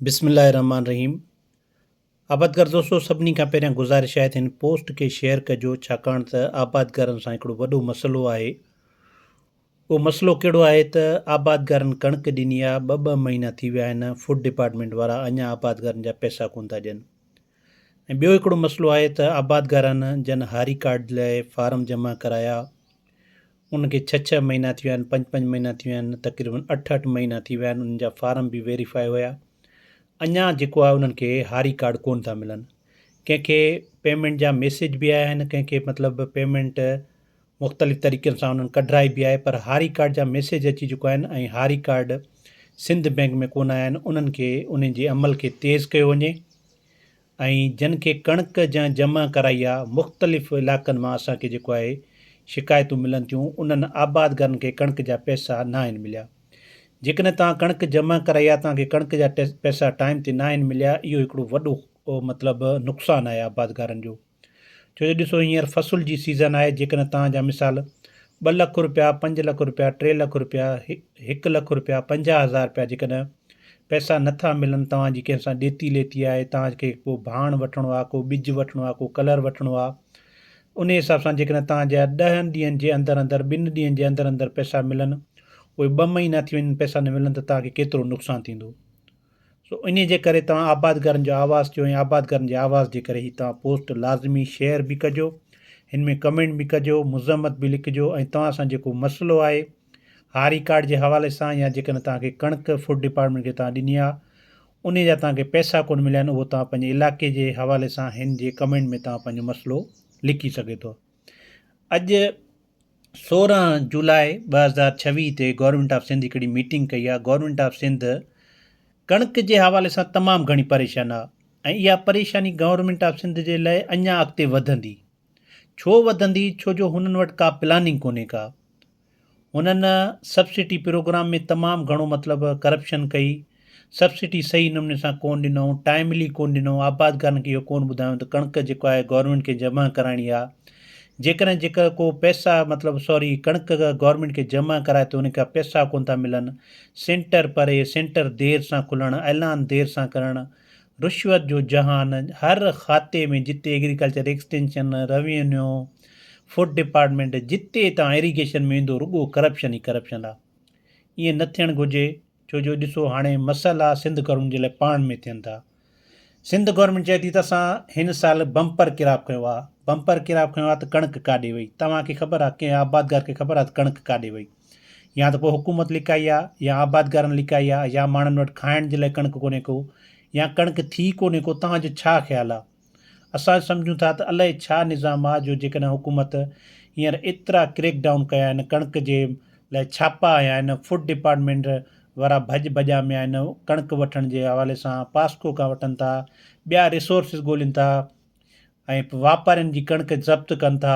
بسم الله الرحمٰن الرحيم آبادگار دوستو سڀني کان پهريان گذارش آهي ته هن پوسٽ کي شيئر ڪجو ڇاڪاڻ ته آبادگارن سان هڪڙو وڏو مسئلو آهي اهو مسئلو ڪهڙو آهي ته آبادگارن ڪڻڪ ڏني آهي ٻه ٻه مهينا ٿي ويا آهن فوڊ ڊپارٽمنٽ وارا اڃا آبادگارن جا پئسا ڪون ٿا ڏين ۽ ٻيو هڪڙو مسئلو آهي ته آبادگارن جن هاري ڪارڊ لاء فارم جمع ڪرايا ان کي ڇهه ڇهه مهينا ٿي ويا آهن پنج پنج مهينا ٿي ويا آهن تقريبن اٺ اٺ مهينا ٿي ويا آهن انهن جا فارم به ويريفائي هيا اڃان جيڪو آهي انهن کي هاري ڪارڊ ڪون ٿا ملن ڪنهن کي پيمنٽ جا ميسيج به آيا آهن ڪنهن کي مطلب پيمنٽ مختلف طريقن سان انهن ڪڍرائي به آهي پر هاري ڪارڊ جا ميسيج اچي چڪا آهن ۽ هاري ڪارڊ سنڌ بئنڪ ۾ ڪون آيا آهن انهن کي انهن جي عمل کي تيز ڪيو وڃي ۽ جن کي ڪڻڪ جنهن جمع ڪرائي آ مختلف علائقن مان اسان کي جيڪو آهي شڪايتون ملن ٿيون انهن آبادگارن کي ڪڻڪ جا پئسا ناهن مليا جيڪڏهن توهان ڪڻڪ جمع ڪرائي آ توهان کي ڪڻڪ جا پئسا ٽائيم تي ناهن مليا اهو هڪڙو وڏو مطلب نقصان آهي آبادگارن جو ڇو جو ڏسو هينئر فصل جي سيزن آهي جيڪڏهن توهان جا مثال ٻه لک روپيا پنج لک روپيا ٽي لک روپيا هڪ لک روپيا پنجاهه هزار روپيا جيڪڏهن پئسا نه ٿا ملن توهان جي ڪنهن سان ڏيتي ليتي آهي توهان کي ڪو ڀاڻ وٺڻو آهي ڪو ٻج وٺڻو آهي ڪو ڪلر وٺڻو آهي انهي حساب سان جيڪڏهن توهان جا ڏهن ڏينهن جي اندر اندر ٻن ڏينهن جي اندر اندر پئسا ملن اهي ٻه مهينا ٿي وڃن پئسا نه ملن ته توهان کي ڪيترو نقصان ٿيندو سو انهي جي ڪري توهان آبادگارن جو آواز ٿيو ۽ آبادگارن جي آواز جي ڪري هي توهان پوسٽ لازمي شيئر به ڪجو هن ۾ ڪمينٽ به ڪجو مذمت به لکجو ۽ توهان سان جيڪو مسئلو آهي ها ريڪارڊ جي حوالي سان يا جيڪڏهن توهان کي ڪڻڪ فوڊ ڊپارٽمينٽ کي توهان ڏني آ انهي جا توهان کي پئسا ڪونه مليا آهن اهو توهان پنهنجي علائقي جي حوالي سان هن جي ڪمينٽ ۾ توهان پنهنجو مسئلو لکي سگهي ٿو اڄ سورهن جولاء ٻه هزار ڇويهه تي گورنمنٽ آف سنڌ هڪڙي ميٽنگ ڪئي آ گورنمنٽ آف سنڌ ڪڻڪ جي حوالي سان تمام گهڻي پريشان آ ۽ اها پريشاني گورنمنٽ آف سنڌ جي لاء اڃا اڳتي وڌندي ڇو وڌندي ڇو جو هنن وٽ ڪا پلاننگ ڪونهي ڪا هنن سبسڊي پروگرام ۾ تمام گهڻو مطلب ڪرپشن ڪئي سبسڊي صحيح نموني سان ڪون ڏنئون ٽائملي ڪون ڏنئون آبادگارن کي اهو ڪون ٻڌايون ته ڪڻڪ جيڪو آهي گورنمينٽ کي جمع ڪرائڻي آهي جيڪڏهن جيڪا ڪو پئسا مطلب سوري ڪڻڪ گورنمينٽ کي جمع ڪرائي ته ان کان پئسا ڪون ٿا ملن سينٽر پري سينٽر دير سان کلڻ اعلان دير سان ڪرڻ رشوت جو جهان هر کاتي ۾ جتي agriculture extension, revenue, food department جتي توهان ايريگيشن ۾ ويندو رڳو ڪرپشن ئي ڪرپشن آ. ائين نه ٿيڻ گهرجي ڇو جو ڏسو هاڻي مسئلا سنڌ گورنمينٽ جي لاء پاڻ ۾ ٿين ٿا. سنڌ گورنمينٽ چئي ٿي ته اسان هن سال بمپر ڪراپ کنيو آ، بمپر ڪراپ کنيو آ ته ڪڻڪ ڪاڏي وئي؟ توهان کي خبر آ ڪنهن آبادگار کي خبر آ ته ڪڻڪ ڪاڏي وئي؟ يا ته پوء حڪومت لڪائي آ يا آبادگارن لڪائي آ يا ماڻهن وٽ کائڻ جي لاء ڪڻڪ ڪونهي ڪو يا ڪڻڪ ٿي ڪونهي ڪو توهان جو ڇا خيال آ اسان سمجهون ٿا ته الائي ڇا نظام آ جو جيڪڏهن حڪومت هينئر ايترا ڪريڪ ڊائون ڪيا آهن ڪڻڪ جي لاء ڇاپا هنيا آهن فوڊ ڊپارٽمينٽ وارا ڀڄ ڀڄا ۾ آهن ڪڻڪ وٺڻ جي حوالي سان پاسڪو کان وٺن ٿا ٻيا ريسورسز ڳولين ٿا ۽ واپارين جي ڪڻڪ ضبط ڪن ٿا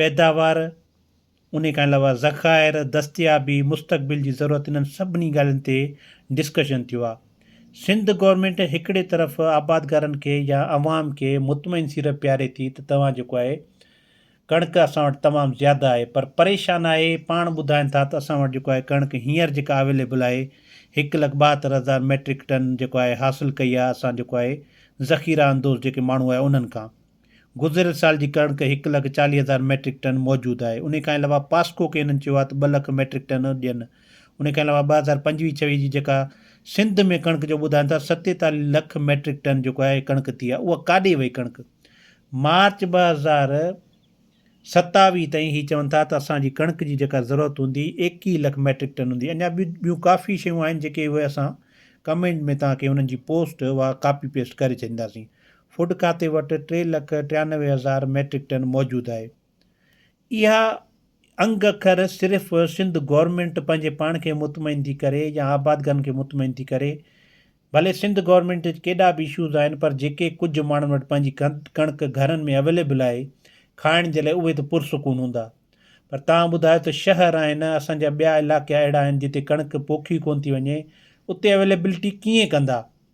پيداوار، انهي کان علاوه ذخائر، دستيابي، مستقبل جي ضرورت انهن سڀني ڳالهين تي ڊسڪشن ٿيو آهي. سنڌ گورنمينٽ هڪڙي طرف آبادگارن کي يا عوام کي مطمئن سيڙپ پياري ٿي ته توهان جيڪو آهي ڪڻڪ اسان وٽ تمام زياده آهي پر پريشان آهي پاڻ ٻڌائين ٿا ته اسان وٽ جيڪو آهي ڪڻڪ هينئر جيڪا اويليبل آهي هڪ لک ٻاهتر هزار ميٽرڪ ٽن جيڪو آهي حاصل ڪئي آهي اسان جيڪو آهي ذخيره اندوز جيڪي ماڻهو آهي انهن کان گذريل سال جي ڪڻڪ هڪ لک چاليهه هزار ميٽرڪ ٽن موجود آهي، انهي کان علاوه پاسڪو کي هنن چيو آهي ته ٻه لک ميٽرڪ ٽن ڏين، انهي کان علاوه ٻه هزار پنجويهه ڇويهه جي جيڪا سنڌ ۾ ڪڻڪ جو ٻڌائن ٿا ستيتاليهه لک ميٽرڪ ٽن جيڪو آهي ڪڻڪ ٿي آهي اها ڪاڏي وئي ڪڻڪ مارچ ٻه هزار ستاويهه تائين هي چون ٿا ته اسان جي ڪڻڪ جي جيڪا ضرورت هوندي ايڪيهه لک ميٽرڪ ٽن هوندي اڃا ٻيون ڪافي شيون آهن جيڪي اهي اسان ڪمينٽ ۾ توهان کي انهن جي پوسٽ اها ڪاپي پيسٽ ڪري ڇڏينداسين فوڊ کاتي وٽ ٽي لک ٽيانوي هزار ميٽرڪ ٽن موجود آهي. اها انگ اکر صرف سنڌ گورنمينٽ پنهنجي پاڻ کي مطمئن ٿي ڪري يا آبادگارن کي مطمئن ٿي ڪري. ڀلي سنڌ گورنمينٽ وچ ڪيڏا به اشوز آهن پر جيڪي ڪجهه ماڻهن وٽ پنهنجي ڪڻڪ گهرن ۾ اويليبل آهي کائڻ جي لاء اهي ته پرسڪون هوندا پر توهان ٻڌايو ته شهر آهن اسان جا ٻيا علائقا اهڙا آهن جتي ڪڻڪ پوکي ڪونه ٿي وڃي اتي اويليبلٽي ڪيئن ڪندا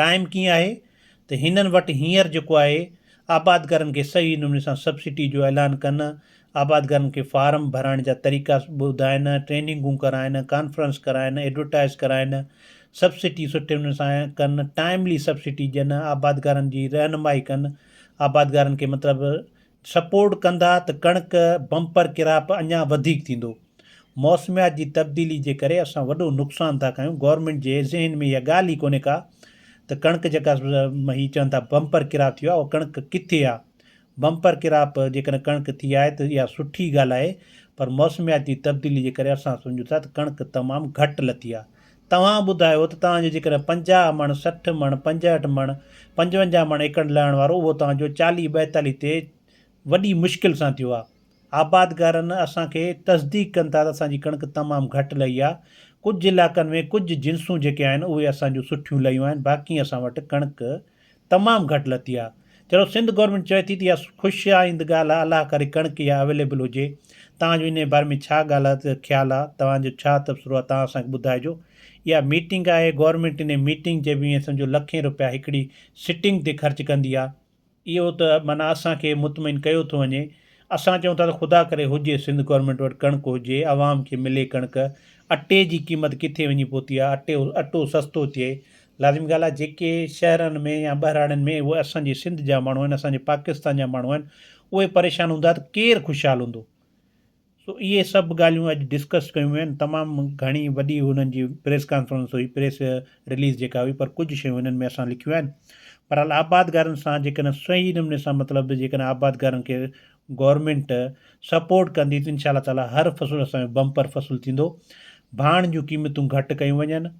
ٽائيم ڪيئن آهي ته هنن وٽ هينئر جيڪو آهي آبادگارن کي صحيح نموني سان سبسڊي جو اعلان ڪن، آبادگارن کي فارم ڀرائڻ جا طريقا ٻڌائين، ٽريننگون ڪرائين، ڪانفرنس ڪرائين، ايڊورٽائيز ڪرائين، سبسڊي سٺي نموني سان ڪن، ٽائيملي سبسڊي ڏين، آبادگارن جي رهنمائي ڪن، آبادگارن کي مطلب سپورٽ ڪندا ته ڪڻڪ بمپر ڪراپ اڃا وڌيڪ ٿيندو موسميات جي تبديلي جي ڪري اسان وڏو نقصان ٿا ڪيون گورنمينٽ جي ذهن ۾ اها ڳالهه ئي ڪونهي ڪا ته ڪڻڪ جيڪا هي چون ٿا بمپر ڪراپ ٿيو آهي اها ڪڻڪ ڪٿي آهي بمپر ڪراپ جيڪڏهن ڪڻڪ ٿي آهي ته اها سٺي ڳالهه آهي پر موسميات جي تبديلي جي ڪري اسان سمجهون ٿا ته ڪڻڪ تمام گهٽ لٿي آهي توهان ٻڌايو ته توهان جو جيڪڏهن پنجاهه مڻ، سٺ مڻ، پنجهٺ مڻ، پنجونجاهه مڻ ايڪڙ لهڻ وارو اهو توهان جو چاليهه ٻائيتاليهه تي وڏي مشڪل سان ٿيو آهي. آبادگارن اسان کي تصديق ڪن ٿا ته اسان جي ڪڻڪ تمام گهٽ لهي آهي. ڪجهه علائقن ۾ ڪجهه جنسون جيڪي آهن اهي اسان جون سٺيون لهيون آهن باقي اسان وٽ ڪڻڪ تمام گهٽ لٿي آ چلو سنڌ گورنمينٽ چوي ٿي ته اها خوش آئند ڳالهه آ الله ڪري ڪڻڪ اها اويليبل هجي توهان جو انهي باري ۾ ڇا ڳالهه خيال آ توهان جو ڇا تبصرو آ توهان اسان کي ٻڌائجو اها ميٽنگ آهي گورنمينٽ انهي ميٽنگ جي به ائين سمجهو لکين روپيا هڪڙي سٽنگ تي خرچ ڪندي آ. اهو ته معنيٰ اسان کي مطمئن ڪيو ٿو وڃي اسان چئون ٿا ته خدا ڪري هجي سنڌ گورنمينٽ وٽ ڪڻڪ هجي عوام کي ملي ڪڻڪ اٽي جي قيمت ڪٿي وڃي پهتي آ اٽو سستو ٿئي لازمي ڳالهه آهي جيڪي شهرن ۾ يا ٻهراڙين ۾ اهي اسان جي سنڌ جا ماڻهو آهن اسان جي پاڪستان جا ماڻهو آهن اهي پريشان هوندا ته ڪير خوشحال هوندو سو اهي سڀ ڳالهيون اڄ ڊسڪس ڪيون ويون آهن تمام گهڻي وڏي هنن جي پريس ڪانفرنس هئي پريس رليز جيڪا هئي پر ڪجهه شيون هنن ۾ اسان لکيون آهن بهرحال آبادگارن سان جيڪڏهن صحيح نموني سان مطلب جيڪڏهن آبادگارن کي گورنمنٽ سپورٽ ڪندي ته انشاء الله تعالی هر فصل اسانجو بمپر فصل ٿيندو ڀاڻ جون قيمتون گهٽ ڪيون وڃن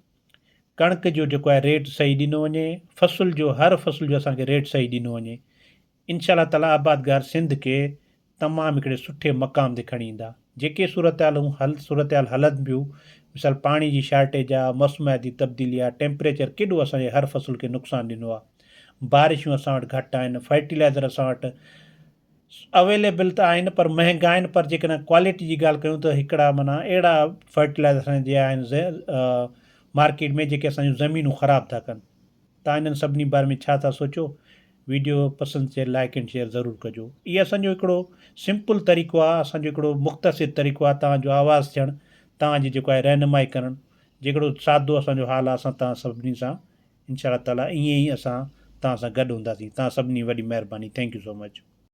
ڪڻڪ جو جيڪو آهي ريٽ صحيح ڏنو وڃي فصل جو هر فصل جو اسان کي ريٽ صحيح ڏنو وڃي انشاء الله تعالٰي آبادگار سنڌ کي تمام هڪڙي سٺي مقام تي کڻي ايندا جيڪي صورتحالون حل صورتحال هلن پيون مثال پاڻي جي شارٽيج آ موسمياتي تبديلي آ ٽيمپريچر ڪيڏو اسان جي هر فصل کي نقصان ڏنو آ بارشون اسان وٽ گهٽ آهن فرٽيلائزر اسان وٽ اويليبل ته آهن پر مهنگا آهن پر جيڪڏهن ڪوالٽي جي ڳالهه ڪيون ته هڪڙا معنيٰ اهڙا فرٽيلائزر اسان جي آهن مارڪيٽ ۾ جيڪي اسان جون زمينون خراب ٿا ڪن تان انهن سڀني باري ۾ ڇا ٿا سوچو ويڊيو پسند ٿئي لائڪ اينڊ شيئر ضرور ڪجو هي اسان جو هڪڙو سمپل طريقو آهي اسان جو هڪڙو مختصر طريقو آهي تان جو آواز ٿيڻ تان جي جيڪو آهي رهنمائي ڪرڻ جيڪڙو سادو اسان جو حال آهي اسان تان سڀني سان انشاء الله تعاليٰ ائين ئي اسان تان سان گڏ هونداسين تان سڀني وڏي مهرباني ٿينڪ يو سو مچ.